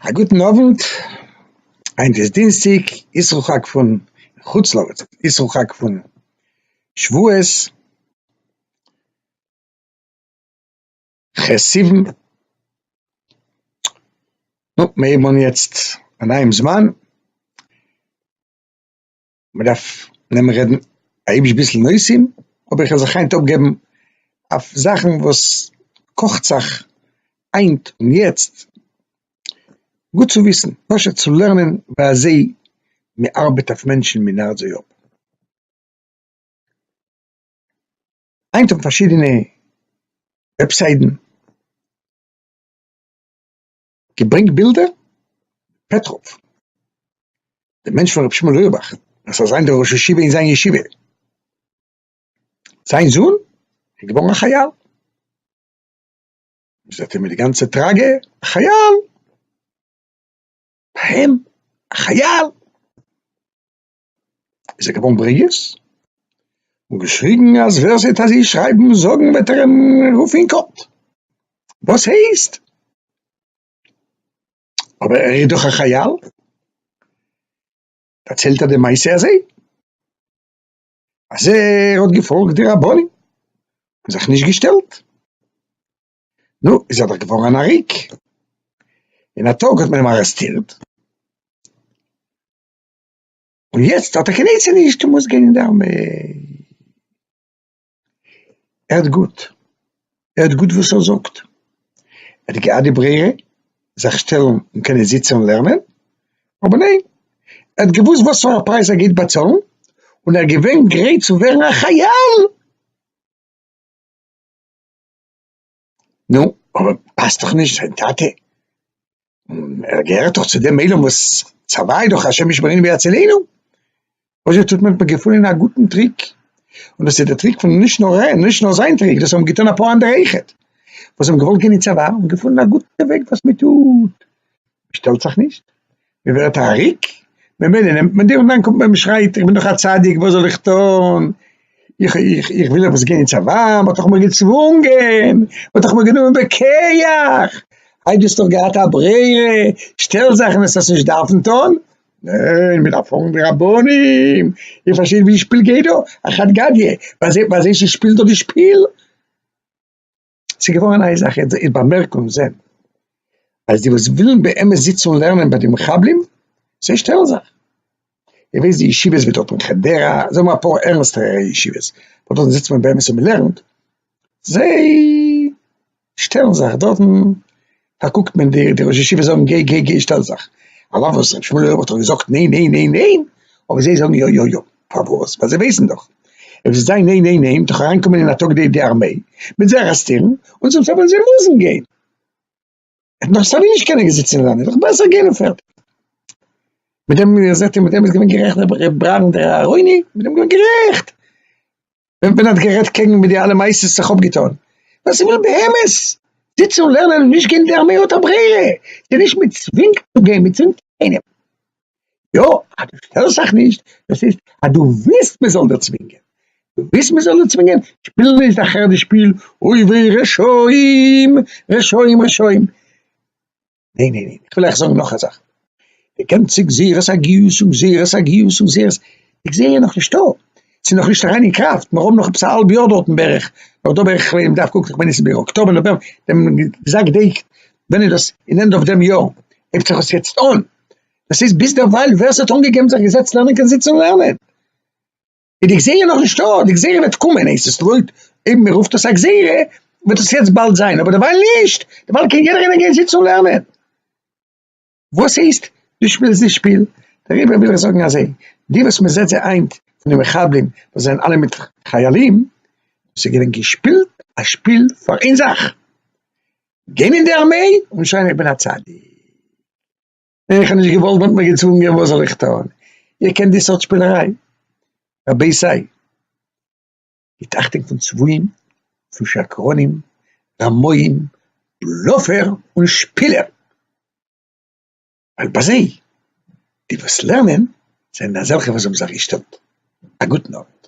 א גוטן אוונט, היינט איז דינסטיג, איסרו חג פון חוץ לארץ, איסרו חג פון שבועות, ח' סיוון, נו, מיר הייבן אן יעצט א נייעם זמן. מען דארף נעמען רעדן היבש ביסל נושאים, האב איך זיך היינט אפגעבן אויף זאכן וואס קאכט זיך היינט און יעצט, גוט צו וויסן, פשוט צו לערנען ווי אזוי מען ארבעט אויף מענטשן און מען נארט זיי אפ. היינט האבן פארשידענע וועבסיידן, געברענגט בילדער? פעטראוו, דער מענטש פון רבי שמעון אויערבאך, וואס איז אזיין דער ראש ישיבה אין זיין ישיבה, זיין זון איז געווארן א חייל, זעט איר מיט די גאנצע טראגע, א חייל! ביי אים? א חייל! איז ער געווארן ברוגז און געשריגן אז ווער ס'וועט אזוי שרייבן און זאגן וועט ער אים רופן אין קאורט, וואס הייסט? אבער ער איז דאך א חייל! דערציילט ער די מעשה אזוי אז ער האט געפאלגט די רבנים און זיך נישט געשטעלט, נו, איז ער דאך געווארן אן עריק, אין א טאג האט מען אים ארעסטירט, און יעצט האט ער קיין עצה נישט און מוז גיין אין די ארמעי. ער האט גוט, ער האט גוט וואס ער זאגט. ער האט געהאט די ברירה זיך שטעלן און קענען זיצן און לערנען, אבער ניין, ער האט געוואוסט וואס פאר א פרייז ער גייט באצאלן, און ער איז געווען גרייט צו ווערן א חייל. נו, אבער פאסט דאך נישט זיין טאטע, ער געהערט דאך צו דעם עולם וואס צוואה דאך השם ישמרינו ויצילנו, וואס יעצט האט מען געפונען א גוטן טריק, און דאס איז די טריק פון נישט נאר ער, נישט נאר זיין טריק, דאס האבן געטון אפאר אנדערע אויכעט, וואס האבן געוואלט גיין אין צוואה און געפונען א גוטע וועג וואס מען טוט, מען שטעלט זיך נישט, מ'ווערט א ריק, ממילא נעמט מען דיר און דאן קומט מען מ'שרייט איך בין דאך א צדיק וואס זאל איך טון, איך איך איך וויל עפעס גיין אין צבא, מ'האט דאך מיר געצוואונגען, מ'האט דאך מיר גענומען בכח, היי דו האסט דאך געהאט א ברירה, שטעל זאכן וואס האסט נישט דארפן טון, ניין מ'דארף פאלגן די רבנים, איר פארשטייט ווי די שפיל גייט דא? א חד גדיא, ביי זיי ביי זיי שפילט דא די שפיל. ס'איז געווארען איין זאך איז די באמערקונג זען אז די וואס ווילען באמת זיצען און לערנען ביי די מחבלים זיי שטעלען זיך די וועסט די ישיבות ווי דארט אין חדרה זאג מיר אפאר ערנסטערע ישיבות וואס דארט זיצט מען באמת און מ'לערנט זיי שטעלען זיך דארטן פארקוקט מען די די ראשי ישיבה זאגן גיי גיי גיי שטעל זיך על אף וואס ר' שמואל אויך האט דאך געזאגט ניין ניין ניין ניין אבער זיי זאגן יא יא יא פארוואס ווייל זיי ווייסן דאך אויב זיי זאגן ניין ניין ניין דאך אריין קומען אין אטאק די די ארמעי מיט זיי ארעסטירן און צום סוף וועלן זיי מוזן גיין ער נאך סייווי נישט קענען זיצן אין ארמעי דאך בעסער גיין און פערטיג מיט דעם זעט איר מיט דעם איז געווען גערעכט ר' ברנדער אהרוני מיט דעם איז געווען גערעכט. ווען מען האט גערעדט קעגן מיט די אלע מעשות זיך אפגעטון, ווען ס'איז וויל באמת זיצן און לערנען און נישט גיין אין די ארמעי האט א ברירה, ס'איז נישט מען צווינגט צו גיין, מען צווינגט קיינעם, יא אז דו שטערסט זיך נישט דאס הייסט אז דו ווילסט מען זאל דיר צווינגען, דו ווילסט מען זאל דיר צווינגען, שפיל נישט די חרדיש שפיל אוי וויי רשעים רשעים רשעים. ניין ניין ניין, איך וויל אייך זאגן נאך א זאך, איר קענט צו גזירת הגיוס און גזירת הגיוס און גזירת, די גזירה איז נאך נישטא, ס'איז נאך נישט אריין אין קראפט, מיר האבן נאך עפעס א האלב יאר דארטן בערך, נאך דא בערך כ'מיין מ'דארף קוקן כ'מיין עס איז בערך אקטאבער נאוועמבער, דעם גזר געדענקט ווען איז דאס אין ענדע אוו דעם יאר, הייבט זיך עס יעצט אן, דאס הייסט ביזדערווייל ווער ס'האט אנגעגעבן זיך געזעצט לערנען קען זיצן און לערנען. איז די גזירה נאך נישט דא, די גזירה וועט קומען, עס איז לויט אויב מען רופט עס א גזירה וועט עס יעצט באלד זיין, אבער דערווייל נישט, דערווייל קען יעדער איינער גיין זיצן און לערנען. וואס הייסט דו שפילסט די שפיל? דעריבער וויל איך זאגן אזוי, די וואס מען זעט זיי היינט פון די מחבלים וואס זענען אלע מיט חיילים, דאס איז געווען געשפילט א שפיל פאר איין זאך, גיין אין די ארמעי און שוין איך בין א צדיק. און איך האב נישט געוואלט ווען האט מיר געצוואונגען וואס זאל איך טון? איך קען די סארט שפינעריי. רבי סיי. געט אכטונג פון צבועים, פון שקרנים, רמאים, בלאפער און שפילער. ווייל ביי זיי, די וואס לערנען, זענען אזעלכע וואס האבן זיך געשטעלט. א גוטן אווענט.